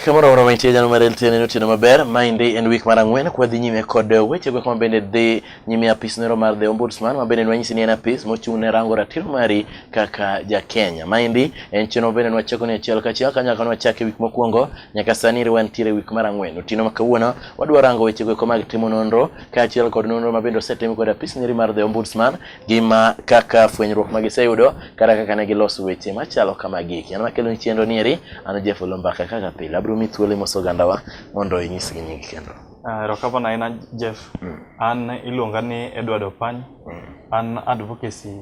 Kamoro moro mantie jalo mar LTN en otieno maber. Maendi en week mar ang'wen kwa dhi nyime kod wechego kama bende dhi nyime apis nero mar The Ombudsman ma bende nwanyisi ni en apis mochung' ne rango ratiro mari kaka ja Kenya. Maendi en chenro bende nwachako ni achiel kachiel kanyaka nwachake week mokwongo Nyaka sani iriwa nitiere wik mar ang'wen. Otieno ma kawuono wadwa rango weche goeko mag timo nonro kaachiel kod nonro ma bende osetim kod apis nyiri mar The Ombudsman gi ma kaka fwenyruok ma giseyudo kata kaka ne giloso weche machalo kama giki. An makelo ni chenro ni eri an Jeff Olombaka kaka pile abiro mi thuolo imoso ogandawa mondo inyisgi nying kendo. Ah, Erokamano ahinya Jeff. Mm. An iluonga ni Edward Opany. Mm. An advocacy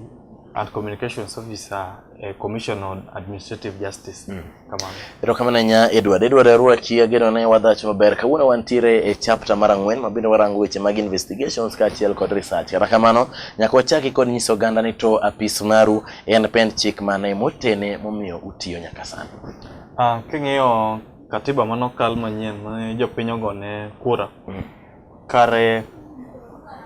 and communications officer eh, Commission on Administrative Justice. Mm. Kamano. Erokamano ahinya Edward. Edward Arwati ageno ne wadhach maber. Kawuono wantiere e chapter mar ang'wen ma bende warango weche mag investigations kaachiel kod research. Kata kamano, nyaka wachaki kod nyiso oganda ni to apis maru en pend chik mane motene momiyo utiyo nyaka sani. Ah, king'iyo katiba manokal manyien ma jopiny ogone kura. Mm. Kare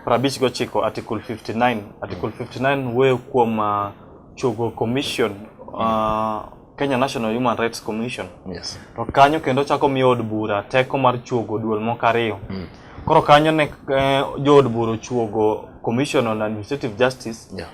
prabich gochiko Article 59. Article 59 wuoyo kuom uh, chogo commission uh, Kenya National Human Rights Commission. Yes. To kanyo kendo chako miyo od bura teko mar chuogo duol moko ariyo. Mm. Koro kanyo ne eh, jood bura ochuogo Commission on Administrative Justice yeah.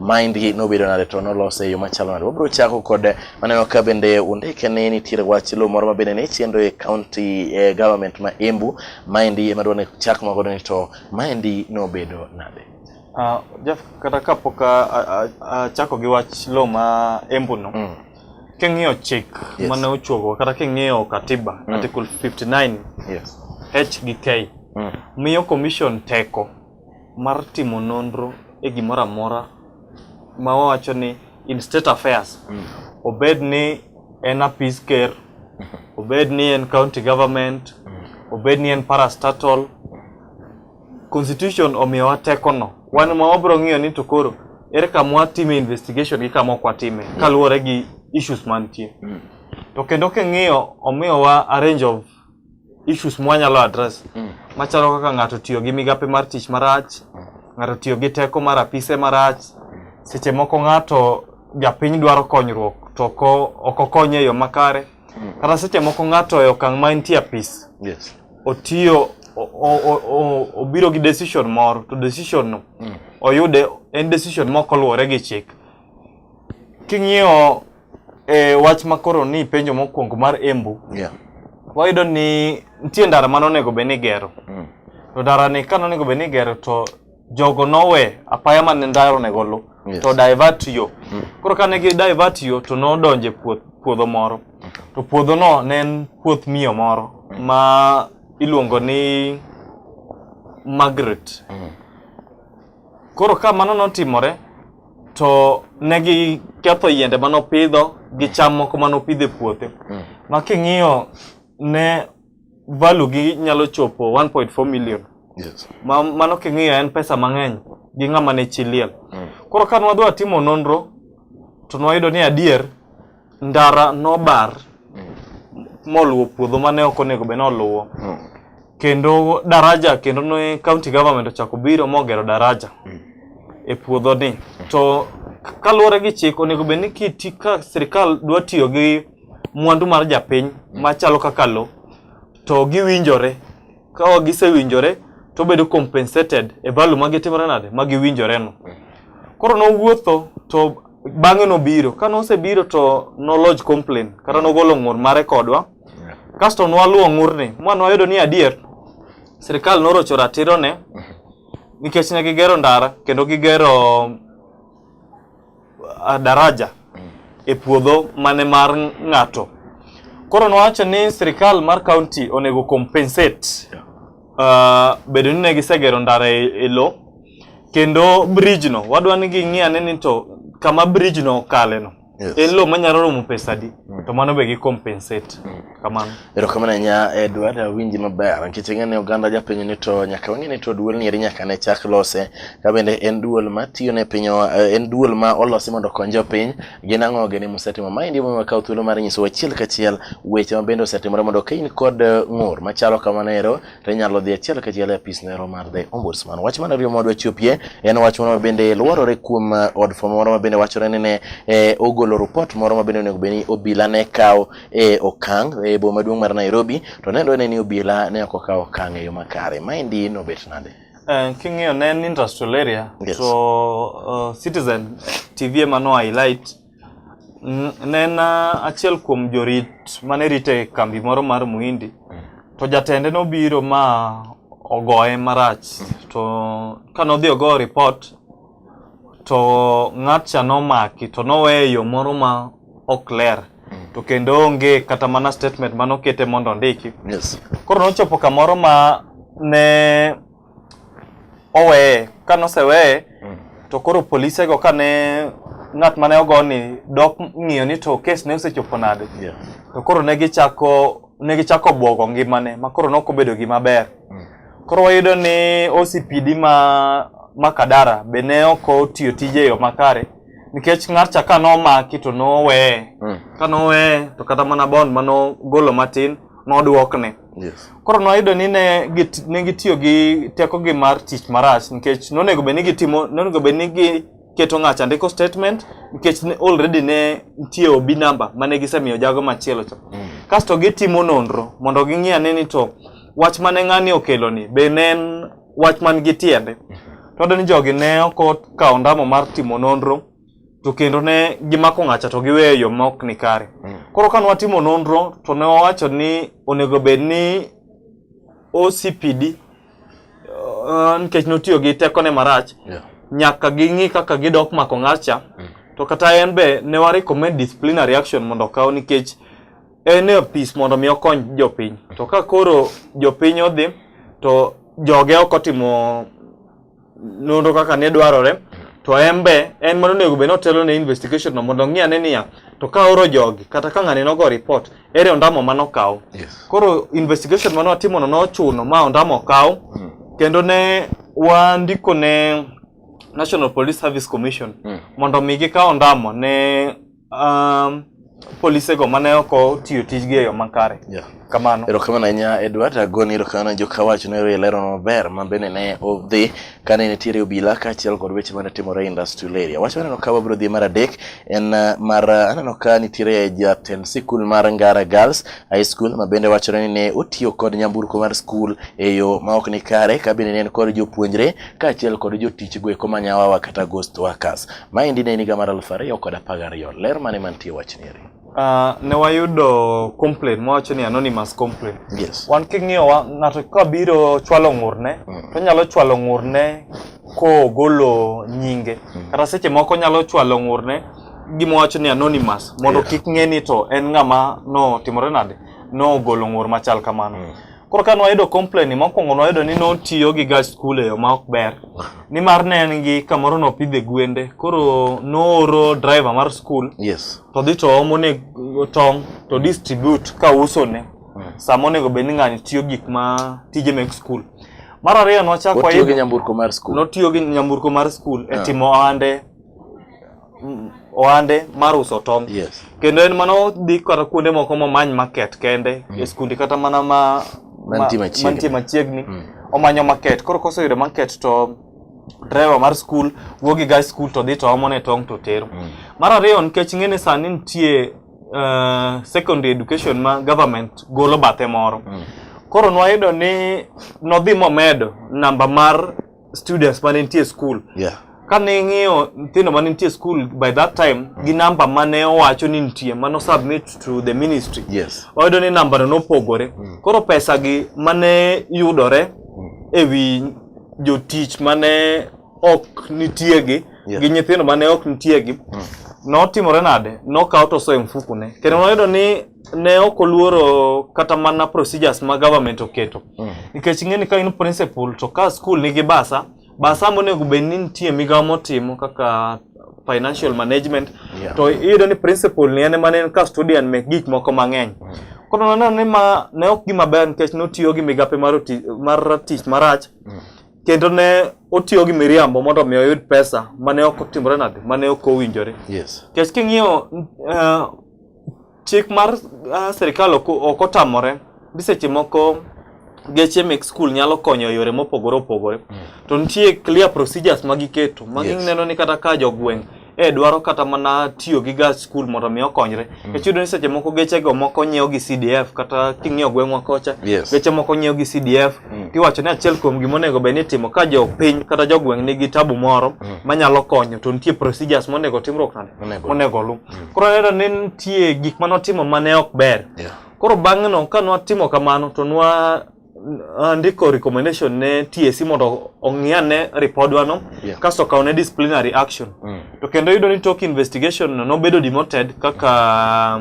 mind gi nobedo nade to nolose e yo machalo nade wabiro chako kod maneno ka bende undike ni nitiere wach lo moro ma bende ne chendo e county eh, government ma Embu maendi ema dwa ni chak mago ni to maendi nobedo nade Ah, Jeff, kata kapok a- a- a- achako gi wach lo ma Embu no, Mm. king'iyo chik Yes. mane ochuogo kata king'iyo katiba Mm. article 59 yes H gi K Mm. miyo commission teko mar timo nonro e gimoro amora ma wawacho ni in state affairs mm. obed ni en apis ker obed ni en county government mm. obed ni en parastatal constitution omiyowa tekono wan ma wabiro ng'iyo ni to koro ere kama watime investigation gi kama ok watime mm. kaluwore gi issues mantie to kendo king'iyo omiyowa a range of issues mwanyalo address mm. machalo kaka ng'ato tiyo gi migape mar tich marach mm. ng'ato tiyo gi teko mar apise marach mm. seche moko ng'ato japiny dwaro konyruok to ok okonye e yo makare mm. kata seche moko ng'ato e okang' ma entie apis yes. otiyo obiro gi decision moro to decision no mm. oyude en decision mok oluwore gi chik king'iyo e wach ma koro ni penjo mokwongo mar Embu yeah. wayudo ni nitie ndara ma nonego bed ni igero mm. to ndarani ka nonego bed ni igero to jogo nowe apaya ma ne ndara onego luw yes. to divert yo mm. koro kane gi divert yo to nodonje puoth, puodho moro mm. to puodhono ne en puoth miyo moro mm. ma iluongo ni Margaret mm. koro ka mano notimore to ne giketho yiende ma nopidho gi cham moko ma nopidho e puothe Mm. ma king'iyo ne value gi nyalo chopo 1.4 million Yes. ma mano king'iyo en pesa mang'eny gi ng'ama ne chi liel Mm. koro ka nwadwa timo nonro to nwayudo ni adier ndara nobar moluwo puodho mane ok onego bed noluwo Mm. kendo daraja kendo ne county government ochako biro mogero daraja e puodho ni to k- kaluwore gi chik onego bed ni kiti ka sirikal dwa tiyo gi mwandu mar japiny machalo kaka lo to giwinjore ka gisewinjore to bedo compensated e value ma gitimore nade ma giwinjoreno. Koro nowuotho to bang'e nobiro. Ka nosebiro to noloj complain kata nogolo ng'ur mare kodwa. Kasto nwaluwo ng'urni ma nwayudo ni adier sirikal norocho ratirone nikech ne gigero ndara kendo gigero ah, daraja e puodho mane mar ng'ato. Koro nowacho ni sirikal mar kaunti onego compensate ah, bedo ni ne gisegero ndara e e lo kendo bridge no wadwa ni ging'i ane ni to kama bridge no okale no Yes. en lo manyalo romo pesa adi to mano be gi compensate. Kamano. Erokamano ahinya Edward, awinji maber nikech ing'e ni oganda japiny ni to nyaka wang'e ni to duol ni eri nyaka ne chak lose ka bende en duol ma tiyo ne piny eh, en duol ma olosi mondo okony jopiny gin ang'o gini musetimo ma endi momiyo kawo thuolo mar nyiso achiel kachiel weche ma bende osetimore mondo ka in kod eh, ng'ur machalo kamano ero to inyalo dhi achiel kachiel e apis nero mar the ombudsman. Wach mar ariyo ma wadwa chopie en wach moro ma bende luorore kuom eh, od fwambo moro ma bende wachore ni ne eh, ogolo ripot moro ma bende onego bed ni obila ne kawo e okang' e boma maduong' mar Nairobi to ne dwene ni obila ne ok okawo okang' e yo makare. Maendi nobet nade? Eh, king'iyo ne en industrial area yes. to uh, eh, citizen tv ema no highlight ne en uh, achiel kuom jorit mane rite kambi moro mar muhindi mm. to jatende nobiro ma ogoye marach mm. to kanodhi ogo report to ng'atcha nomaki to noweye e yo moro ma ok ler mm. to kendo onge kata mana statement mane okete mondo ondiki yes. koro nochopo kamoro ma ne oweye ka noseweye mm. to koro polisego kane ng'at mane ogoni dok ng'iyo ni to kes ne osechopo nade yeah. to koro ne gichako ne gichako bwogo ngimane ma koro ne ok obedo gima ber mm. Koro wayudo ni OCPD ma ma Kadara be ne ok otiyo tije e yo makare nikech ng'atcha ka nomaki to noweye Mm. ka noweye to kata mana bond ma nogolo matin nodwokne Yes. koro noyudo ni ne git- ne gitiyo gi tekogi mar tich marach nikech nonego bed ni gitimo nonego bed ni gi keto ng'acha ndiko statement nikech ne already ne nitie obi namba mane gisemiyo jago machielo cha mm. kasto gitimo nonro mondo ging'i ane ni to wach mane ng'ani okelo ni be ne en wach man gi tiende mm-hmm. to ni jogi ne ok okawo ndamo mar timo nonro to kendo ne gimako ng'acha to giweyo yo ma ok ni kare mm. koro kane watimo nonro to ne wawacho ni onego bed ni OCPD uh, nikech notiyo gi tekone marach Yeah. nyaka ging'i kaka gidok mako ng'atcha Mm. to kata en be ne wa recommend disciplinary action mondo okaw nikech en e apis mondo mi okony jopiny to ka koro jopiny odhi to joge ok otimo nonro kaka ne dwarore to en be en mano onego bed ni otelo ne investigation no mondo ong'i ane niya to ka oro jogi kata ka ng'ani nogo report ere ondamo ma nokaw Yes. koro investigation mane watimono nochuno ma ondamo okaw Mm. kendo ne wandiko ne national police service commission Mm. mondo mi gikaw ondamo ne Um, polisego mane ok otiyo tijgi e yo makare yeah. kamano erokamano ahinya edward agoni erokamano jo kawacho ne ilero maber ma bende ne odhi kane nitiere obila kaachiel kod weche mane timore industrial area wach maneno ka wabiro dhi mar adek en uh, mar uh, aneno ka nitiere jatend sikul mar ngara girls high school ma bende wachore ni ne otiyo kod nyamburko mar skul e yo ma ok ni kare ka bende ne en kod jopuonjre kaachiel kod jotich goeko manyawawa kata ghost workers Maendi ne en higa mar aluf ariyo kod apar gariyo. Ler mane mantie wachni eri? Uh, ne wayudo complaint mwawacho ni anonymous complaint yes. wan king'iyowa ng'ato ka biro chwalo ng'urne mm. to nyalo chwalo ng'urne kogolo nyinge mm. kata seche moko nyalo chwalo ng'urne gima wacho ni anonymous mondo yeah. kik ng'e ni to en ng'ama notimore nade nogolo ng'ur machal kamano mm. Koro ka nwayudo complain ni mokwongo nwayudo ni notiyo gi gach skul e yo ma ok ber. Nimar ne en gi kamoro nopidhe gwende. Koro nooro driver mar skul Yes. to dhi to omo ne tong' to distribute ka uso ne. Sama onego bed ni ng'ani tiyo gik ma tije mek skul. Mar ariyo nwachako Otiyo gi wayudo nyamburko mar skul. notiyo gi nyamburko mar skul e timo ohande mm, ohande mar uso tong'. Yes. Kendo en mana odhi kata kuonde moko momany market kende mm. e skundi kata mana ma mantie machiegni, mantie machiegni. Mm. omanyo market. Koro koseyudo market to driver mar skul wuok gi gach skul to dhi to omone tong' to tero. Mm. Mar ariyo nikech ng'eni sani nitie uh, secondary education ma government golo bathe moro. Mm. Koro nwayudo ni nodhi momedo namba mar students mane nitie e school yeah. kane ing'iyo nyithindo mane nitie e school by that time mm. gi namba mane owacho ni nitie mano submit to the ministry yes. oyudo ni nambano nopogore mm. koro pesa gi mane yudore mm. ewi jotich mane ok nitie gi yeah. gi nyithindo mane ok nitie gi mm. notimore nade nokawo toso e mfukune kendo noyudo ni ne ok oluoro kata mana procedures ma government oketo mm. nikech ing'e ni ka in principal to ka school nigi basa basa monego bed ni nitie migawo motimo kaka financial management yeah. to iyudo ni principal ni en mane en ka student mek gik moko mang'eny mm. koro naneno ni ma ne ok gima ber nikech notiyo gi migape mar mar tich marach mm. kendo ne otiyo gi miriambo mondo mi oyud pesa mane ok otimore nade mane ok owinjore yes. kech king'iyo uh, Chik mar uh, sirikal ok otamore bi seche moko geche mek skul nyalo konyo e yore mopogore opogore mm. to nitie clear procedures ma giketo ma yes. gineno ni kata ka jogweng' e dwaro kata mana tiyo gi gach skul mondo mi okonyre mm. e chudo ni seche moko geche go moko nyiewo gi CDF kata king'iyo gweng'wa kocha yes. geche moko nyiewo gi CDF mm. tiwacho ni achiel kuom gima onego bed ni itimo ka jo piny kata jogweng' nigi tabu moro mm. manyalo konyo to nitie procedures monego timruok nade monego lu mm. Koro aneno ni nitie gik mane watimo mane ok ber. Yeah. Koro bang'eno ka nwatimo kamano to nwa uh, ndiko recommendation ne TSC mondo ong'i ane ripodwa no Yeah. kasto okaw ne disciplinary action. Mm. To kendo yudo ni tok investigation no nobedo demoted kaka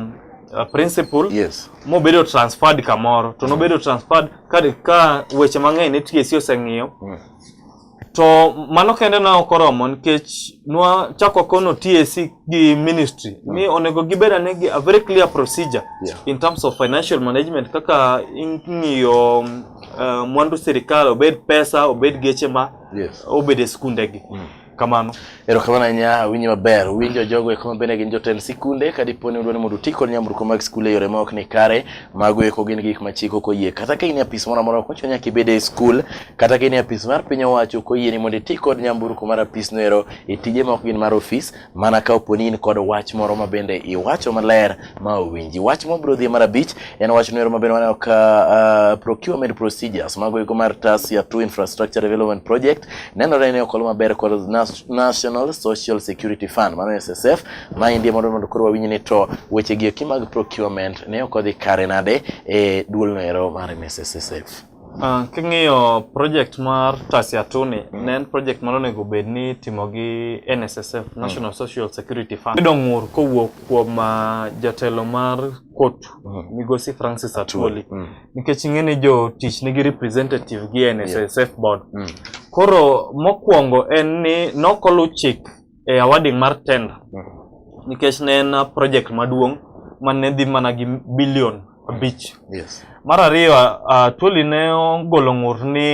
uh, principal Yes. mobedo transferred kamoro to nobedo transferred ka, ka weche mang'eny ne TSC oseng'iyo Mm. To mano kende ne ok oromo nikech nwa chako kono TAC gi ministry mm. ni onego gibed ane gi a very clear procedure yeah. in terms of financial management kaka ing'iyo uh, mwandu sirikal obed pesa obed geche ma yes. obed e skundegi mm. kamano Erokamano ahinya, awinji maber. Winjo jogo eko mabende gin jotend sikunde ka dipo ni udwa ni mondo uti kod nyamburko mag skul e yore ma ok ni kare, mago eko gin gik ma chik ok oyie. Kata ka in e apis moro amora ok ochuno nyaka ibed e skul, kata ka in e apis mar piny owacho ok oyieni mondo iti kod nyamburko mar apisno ero e tije ma ok gin mar ofis, mana ka opo ni in kod wach moro mabende iwacho maler ma owinji. Wach mabiro dhie mar abich en wach nwero maber waneno ka uh, procurement procedures mago iko mar Tasia 2 Infrastructure Development Project nenore ni okolo maber kod National Social Security Fund mano SSF ma indie mondo mondo koro wawinj ni to weche gi eki mag procurement ne ok odhi kare nade e duol noero mar SSF. Uh, king'iyo project mar Tasiatuni mm. ne en project mane onego bed ni itimo gi NSSF, mm. National mm. Social Security Fund. Yudo ng'ur kowuok kuom ah, jatelo mar kotu mm. migosi Francis Atwoli mm. nikech ing'e ni jotich nigi representative gi NSSF yeah. board mm. koro mokwongo en ni nokolu chik e awarding mar tender nikech ne en project maduong' ma ne dhi mana gi bilion abich. Yes. Mar ariyo, uh, Twoli ne ogolo ng'ur ni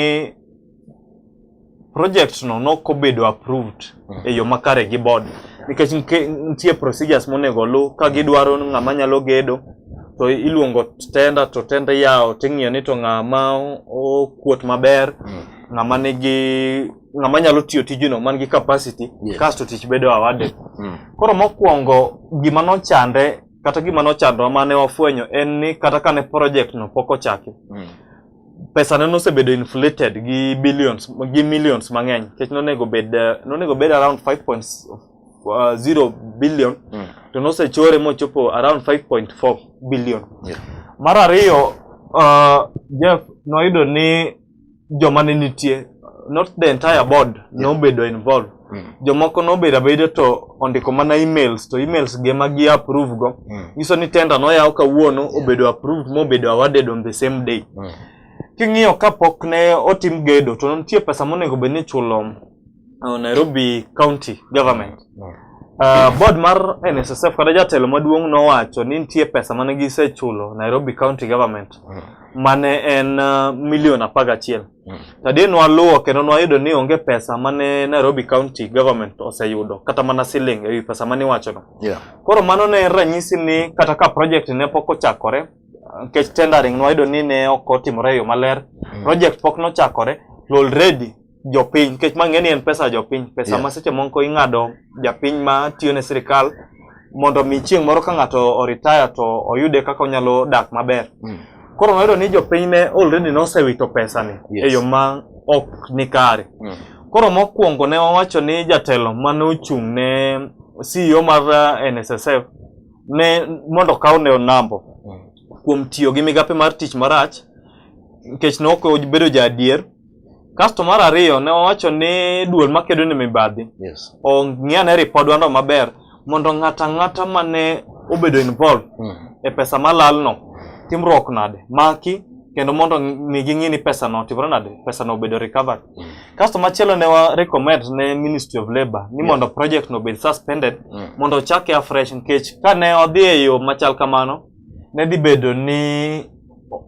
project no nok obedo approved mm. e yo makare gi board nikech nitie procedures monego oluw ka gidwaro ng'ama nyalo gedo to iluongo tenda to tenda iyawo ting'iyo ni to ng'ama okuot maber mm. ng'ama nigi ng'ama nyalo tiyo tijino man gi capacity yes. kasto tich bedo awarded mm. koro mokwongo gima nochande kata gima nochandwa mane wafwenyo en ni kata kane project no pok ochaki mm. pesa ne nosebedo inflated gi billions gi millions mang'eny nikech nonego bed nonego bed around 5.0 uh, billion mm. to nosechore mochopo around 5.4 billion yeah. mar ariyo uh, Jeff noyudo ni joma ne nitie not the entire board yeah. nobedo involved mm. jomoko nobedo abeda to ondiko mana emails to emails ge ma gi approve go mm. nyiso ni tender noyaw kawuono yeah. obedo approved mobedo awarded on the same day mm. king'iyo kapok ne otim gedo to nitie pesa monego bed ni chulo uh, Nairobi County Government. Uh, board mar NSSF kata jatelo maduong' nowacho ni nitie pesa mane gisechulo Nairobi County Government mm. mane en uh, milion apar gachiel. Mm. Tadie nwaluwo kendo nwayudo ni onge pesa mane Nairobi County Government oseyudo kata mana siling ewi pesa mane iwachono. Yeah. Koro mano ne en ranyisi ni kata ka project ne pok ochakore nikech tendering nwayudo ni ne ok otimore e yo maler. Mm. Project pok nochakore to already jopiny nikech ma ng'eni en pesa jopiny pesa yeah. ma seche moko ing'ado japiny ma tiyo ne sirikal mondo mi chieng' moro ka ng'ato oritaya to oyude kaka onyalo dak maber mm. koro noyudo ni jopiny ne already nosewito pesani yes. e yo ma ok ni kare mm. koro mokwongo ne owacho ni jatelo mane ochung' ne CEO mar eh, NSSF ne mondo okaw ne onambo mm. kuom tiyo gi migape mar tich marach nikech ne ok obedo ja adier Kasto mar ariyo ne wawacho ni duol makedo ne mibadhi Yes. ong'iane ripodwano maber mondo ng'ato ang'ata mane obedo involved Mm. e pesa malalno timruok nade maki kendo mondo mi ging'i ni pesano otimore nade pesano obedo recovered kasto machielo ne wa recommend ne ministry of labour ni mondo project no obed suspended Mm. mondo ochake afresh nikech kane odhi e yo machal kamano ne dhi bedo ni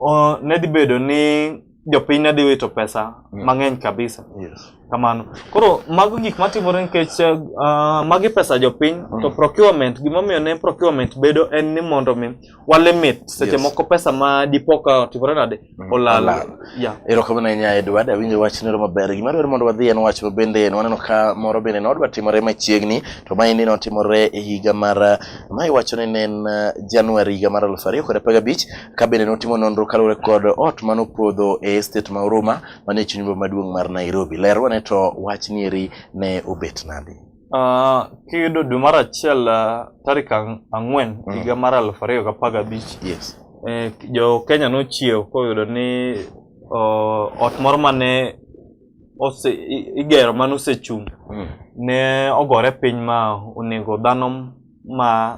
o- ne dhi bedo ni jopiny ne dhi wito pesa yeah. mang'eny kabisa yes. kamano koro mago gik matimore nikech uh, magi pesa jopiny mm. to procurement gimomiyo ne procurement bedo en ni mondo mi walimit seche yes. moko pesa ma dipo ka otimore nade mm. olal yeah. erokamano ahinya edward awinjo wach nero maber gima dwaro mondo wadhi en wach mabende waneno ka moro bende ne odwa timore machiegni to maendi ne otimore e higa mar ma iwacho ni ne en uh, januari higa mar aluf ariyo kod apar gabich kabende notimo nonro kaluwore kod ot mane opodho e estate ma Huruma manie chuny boma maduong' mar Nairobi. Ler wane to wach nieri ne obet nade? Uh, kiyudo dwe mar achiel uh, tarik ang'wen mm. higa mar aluf ariyo gi apar gabich yes. eh, jo Kenya nochiew koyudo ni uh, ot moro mane ose igero mane osechung' mm. ne ogore piny ma onego dhano ma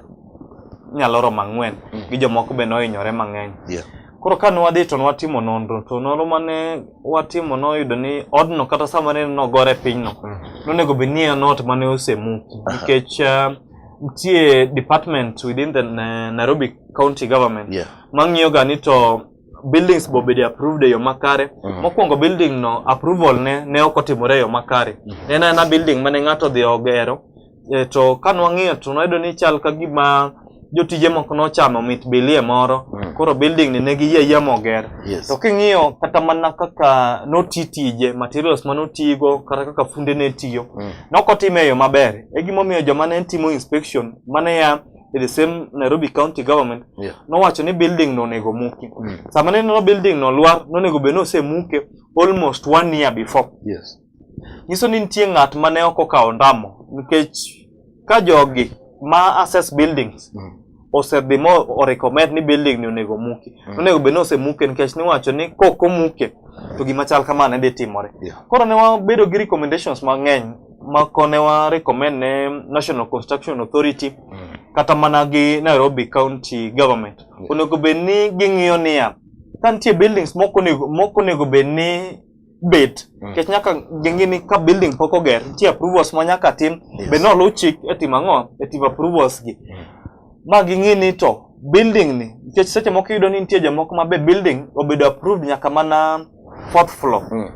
nyalo romo ang'wen mm. gi jomoko be nohinyore mang'eny yeah. koro ka nwadhi to nwatimo nonro to nonro mane watimo noyudo ni odno kata sama ne nogore pinyno mm. nonego bed ni en ot mane osemuki nikech uh, nitie uh, department within the uh, nairobi county government yeah. mang'iyoga ni to buildings bo bedi approved e yo makare mm -hmm. mokwongo building no approval ne ne ok otimore e yo makare mm -hmm. en ana building mane ng'ato dhi ogero e, to ka nwang'iyo to nwayudo ni chal ka gima jotije moko nochamo mit bilie moro Mm. koro building ni ne giyie yie moger Yes. to king'iyo kata mana kaka noti tije materials ma notigo kata kaka funde ne tiyo Mm. nok otime e yo maber e gimomiyo joma ne timo inspection mane ya e the same nairobi county government Yeah. nowacho ni building no onego muki Mm. sama ne neno building no lwar nonego bed ni osemuke almost one year before Yes. nyiso ni nitie ng'at ma ne ok okawo ondamo nikech ka jogi ma assess buildings Mm. osedhi ma orecommend ni building ni onego muki Mm. onego bed ni osemuke nikech niwacho ni kok omuke to gima chal kama ne dhi timore Yeah. koro ne wabedo gi recommendations mang'eny ma kone wa recommend ne National Construction Authority Mm. kata mana gi Nairobi County Government Yeah. onego bed ni ging'iyo niya ka nitie buildings moko onego moko onego bed ni bet mm. kech nyaka gengi ni ka building pok oger nitie approvals ma nyaka tim yes. be noluw chik e tim ang'o e tim approvals gi mm. ma ging'i ni to building ni nikech seche moko iyudo ni nitie jomoko ma be building obedo approved nyaka mana fourth floor mm.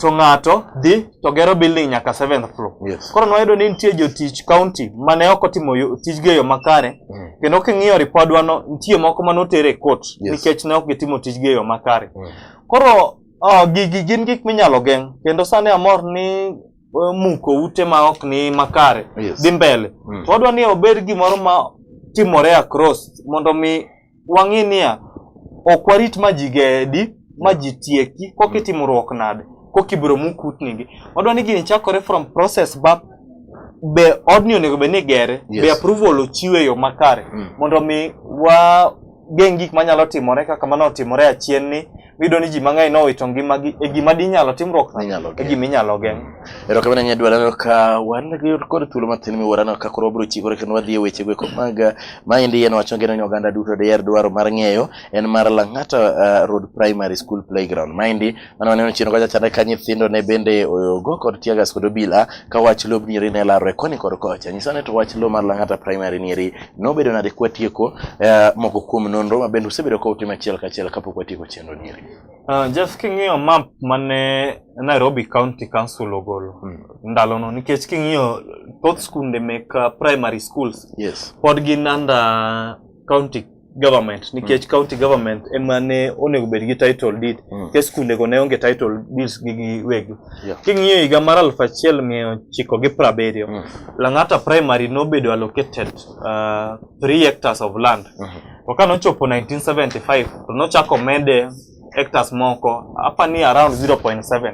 to ng'ato dhi to gero building nyaka seventh floor yes. koro nwayudo ni nitie jotich county mane ok otimo tijgi e yo makare mm. kendo king'iyo ripodwano nitie moko mane otere e court yes. nikech ne ok gitimo tijgi e yo makare mm. Koro oh, gigi gin gik minyalo geng' kendo sani amor ni eh, muko ute ma ok ni makare Yes. dhi mbele Mm. to wadwa ni obed gimoro ma timore across mondo mi wang'i niya ok warit ma ji gedi ma ji tieki koka itimruok nade koka ibiro mu kutnigi wadwa ni gini chakore from process back be odni onego bed ni igere be Yes. approval ochiw e yo makare Mm. mondo mi wa geng' gik manyalo timore kaka mane otimore achien ni miyudo ni ji mang'eny nowito ngimagi e gima dinyalo timruok Inyalo e geng'. gima inyalo geng' Erokamano ahinya Dwala aneno ka wan gi kod thuolo matin miwuoro aneno ka koro wabiro chikore kendo wadhi e weche gweko mag ah, maendi en wacho ngeno ni oganda duto diher dwaro mar ng'eyo en mar Lang'ata ah, Road Primary School Playground. Maendi mano waneno chien kocha chande ka nyithindo ne bende oyogo kod tiagas kod obila ka wach lob nieri ne larore koni kod kocha nyisa ni to wach lob mar lang'ata primary nieri nobedo nade kwatieko eh, moko kuom nonro ma bende usebedo ka utimo achiel kachiel kapok watieko chenro nieri Uh, Jeff king'iyo map mane Nairobi County Council ogolo Hmm. ndalono nikech king'iyo thoth skunde mek uh, primary schools yes pod gin under county government nikech mm. county government ema ne onego bed gi title deed mm. ke skunde go ne onge title deeds gi giwegi yeah. king'iyo higa mar aluf achiel mia ochiko gi prabiriyo mm. Lang'ata primary nobedo allocated uh, three hectares of land mm -hmm. to ka nochopo 1975 to nochako mede hectares moko apa ni around 0.7 mm.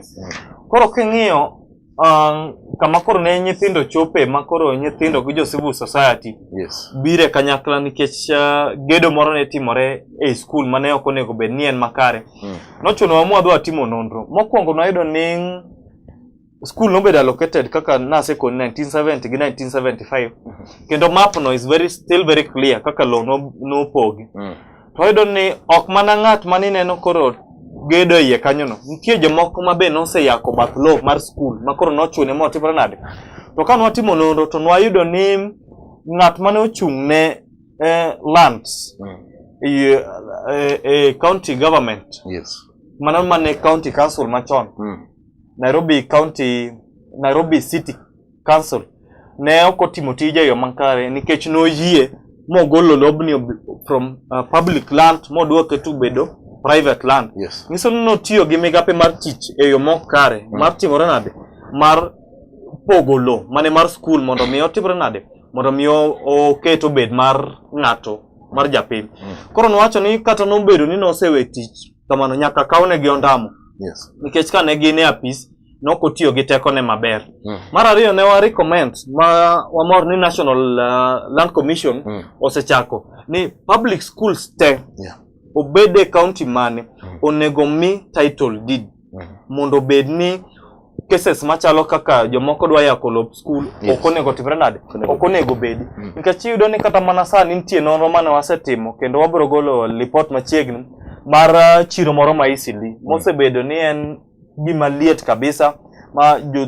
koro king'iyo uh, kama koro ne nyithindo chope ma koro nyithindo gi jo civil society yes. bire kanyakla nikech uh, gedo moro ne timore e skul ma ne ok onego bed ni en makare mm. nochunowa mwadhi watimo nonro mokwongo nwayudo ni skul nobedo allocated kaka nasekoni 1970 gi 1975 mm -hmm. kendo mapno is very, still very clear kaka low nopogi no mm. to wayudo ni ok mana ng'at ma nineno koro gedo iye kanyono nitie jomoko ma be noseyako bath lowo mar skul ma koro nochune motimore nade to ka nwatimo nonro to nwayudo ni ng'at mane ochung' ne eh, lands Mm. eh, eh, eh, county government Yes. mana mane county council machon Mm. nairobi county nairobi city council ne ok otimo tije e yo makare nikech noyie mogolo lobni from uh, public land moduoke to bedo private land yes. nyiso ni notiyo gi migape mar tich e yo mok kare mm. mar timore nade mar pogo lo mane mar skul mondo mi otimre nade mondo mi oket obed mar ng'ato mar japiny mm. koro nowacho ni kata nobedo ni nosewe tich kamano nyaka kawnegi ondamo yes. nikech kane gin e apis ne ok otiyo gi tekone maber. Mm. Mar ariyo ne wa recommend ma wamor ni National uh, Land Commission mm. osechako ni public schools te yeah. obed e county mane mm. onego mi title deed mm. mondo obed ni cases machalo kaka jomoko dwa yako lop school yes. ok onego timre nade ok onego bedi mm. nikech iyudo ni kata mana sani nitie nonro mane wasetimo kendo wabiro golo report machiegni mar uh, chiro moro ma Eastleigh mm. mosebedo ni en Gima liet kabisa ma jo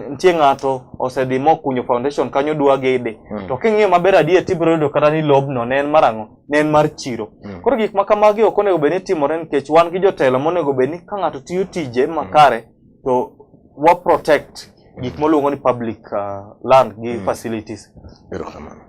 nitie ng'ato osedhi mokunyo foundation kanyo dwa gede mm. to king'iyo maber adier tibiro yudo kata ni lobno ne en mar ang'o ne en mar chiro mm. koro gik ma kamagi ok onego bed ni timore nikech wan gi jotelo monego bed ni ka ng'ato tiyo tije makare mm. to wa protect gik moluongo ni public uh, land gi mm. facilities erokamano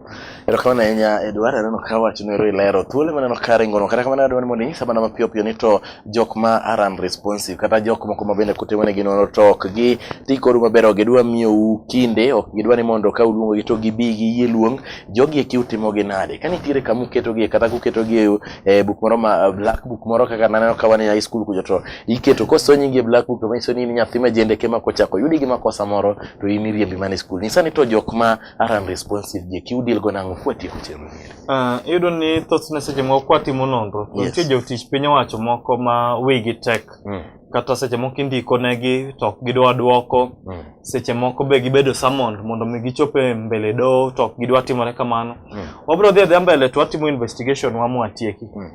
erokamano ahinya edwar aneno ka wach nero ilero thuolo maneno ka ringono kata kamano adwani mondo inyisa mana mapiyo piyo ni to jok ma are unresponsive kata jok moko ma bende kutimo ne ginono to ok gi ti kodu maber ok gidwa miyou kinde ok gidwa ni mondo ka uluongo gi to gibi gi yie luong jogi eki utimo gi nade ka nitiere kama uketogie kata kuketogie e buk moro ma black book moro kaka naneno ka wan e high school kucho to iketo koso nyingi e black book manyiso ni in nyathi ma jendeke ma kochako yudi gi makosa moro to in iriembi mana e skul nyisa ni to jok ma are unresponsive je ki udil go nang'o kwatieko chenro miri Ah, iyudo ni thothne seche moko kwatimo nonro to Yes. nitie jotich piny owacho moko ma wigi tek Mm, kata seche moko indiko negi to ok gidwa dwoko mm, seche moko be gibedo summoned mondo mi gichop e mbele doho to ok gidwa timore kamano mm, wabiro dhi adhiya mbele to watimo investigation wa mwatieki mm.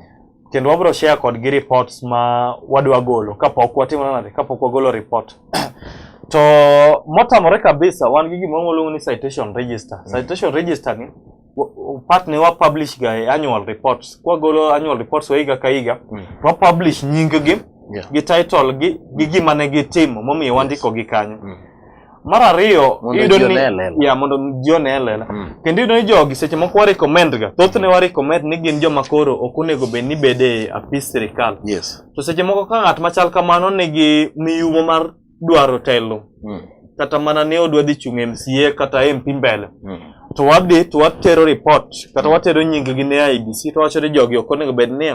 kendo wabro share kodgi reports ma wadwa golo kapok watimo nade kapok wagolo report to motamore kabisa wan gi gima waluongo ni citation register mm. citation register ni part ne wa publish ga e annual reports kwa golo annual reports wa higa ka higa mm. wa publish nying gi yeah. gi title gi gi gima ne gitimo momiyo wandiko gi kanyo mm. Mar ariyo iyudo ni ya mondo jione elela. Mm. Kendo iyudo ni jogi seche moko wa recommend ga. Thothne wa recommend ni gin joma koro ok onego bed ni bede apis sirkal. Yes. To seche moko ka ng'at machal kamano nigi miyumo mar dwaro telo. Mm. Kata mana ni odwa dhi chung' MCA kata MP mbele. Mm. To wadhi to watero report kata mm. watero nying gi ne IBC to wacho ni jogi ok onego bed ni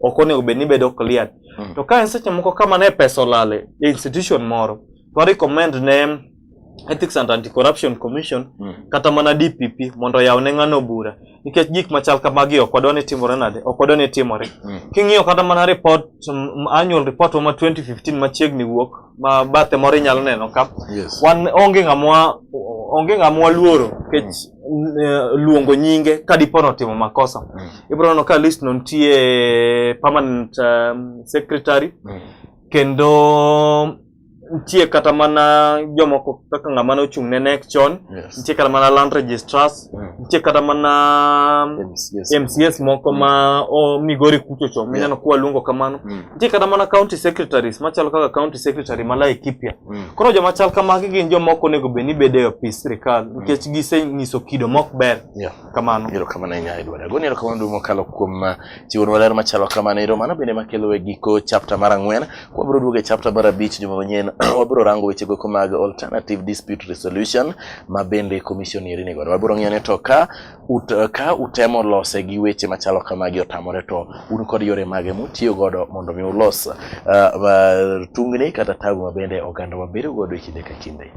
ok onego bed ni bedo clear. Mm. To ka en seche moko kama ne pesa olale institution moro. wa recommend ne Ethics and Anti-Corruption Commission mm. kata mana DPP mondo yaw ne ng'ano bura nikech gik machal kamagi ok wadwa ni timore nade ok wadwa ni timore mm. king'iyo kata mana report um, annual report ma 2015 machiegni wuok ma bathe moro inyalo neno ka yes. wan onge ng'amwa onge ng'amwa luoro nikech mm. Eh, luongo nyinge ka dipo ni otimo makosa mm. ibiro neno ka list no nitie permanent um, secretary mm. kendo nitie kata mana jomoko kaka ng'ama ne ochung' ne NEC chon, Yes. nitie kata mana land registrars, Mm. nitie kata mana MCS. MCS moko ma o Migori kucho cho, mineno kuwa luongo kamano. Mm. Nitie kata mana county secretaries machalo kaka county secretary ma Laikipia. Mm. Koro joma chal kamagi gin joma ok onego bed ni bedo e opis sirkal nikech gisenyiso kido mok ber. Yeah. kamano ero kamano ahinya edward agoni ero kamano duong' mokalo kuom uh, chiwonwa ler machalo kamano ero mano bende makelo e giko chapter mar ang'wen kwabiro duogo e chapter mar abich juma manyien wabiro rango weche goko mag alternative dispute resolution ma bende commission eri ni godo wabiro ng'iyo ni to ka ut, uh, ka utemo lose gi weche machalo kamagi otamore to un kod yore mage mutiyo godo mondo mi ulos uh, uh, tungni kata tabu ma bende oganda wabedo godo e kinde ka kinde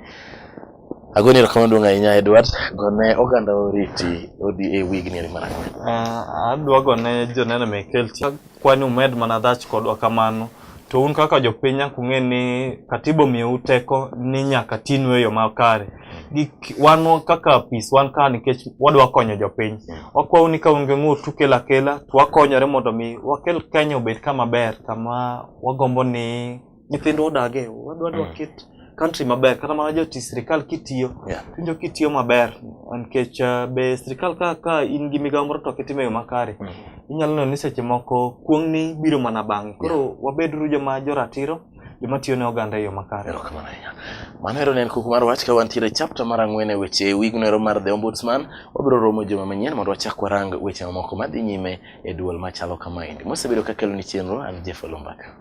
Agoni erokamano duong' ahinya Edward, gone oganda oriti odhi e wigni eri mar ang'wen. Ah, adwa gone joneno mek LT kwani umed mana dhach kodwa kamano to un kaka jopiny nyaka ung'e ni katiba omiyou teko ni nyaka tinu e yo makare Gik- wan kaka apis wan ka nikech wadwa konyo jopiny wakwau ni ka un gi ng'ur tukelo akela to wakonyore mondo mi wakel kenya obed kama ber kama wagombo ni nyithindwa odage wadwa dwa mm. kit country maber kata mana joti sirikal kitiyo yeah. winjo kitiyo maber nikech uh, be sirikal ka, ka in gi migawo moro to kitimo yo makare mm. inyalo neno ni seche moko kuong'ni biro mana bang'e koro yeah. wabeduru joma joratiro joma tiyo ne oganda e yo makare erokamano ahinya mano ero ne en kuku mar wach ka wantiere chapta mar ang'wen e weche e wigno ero mar the ombudsman wabiro romo juma manyien mondo wachak warang weche mamoko madhi nyime e duol machalo kamaendi mosebedo ka keloni chenro an jeff olumbaka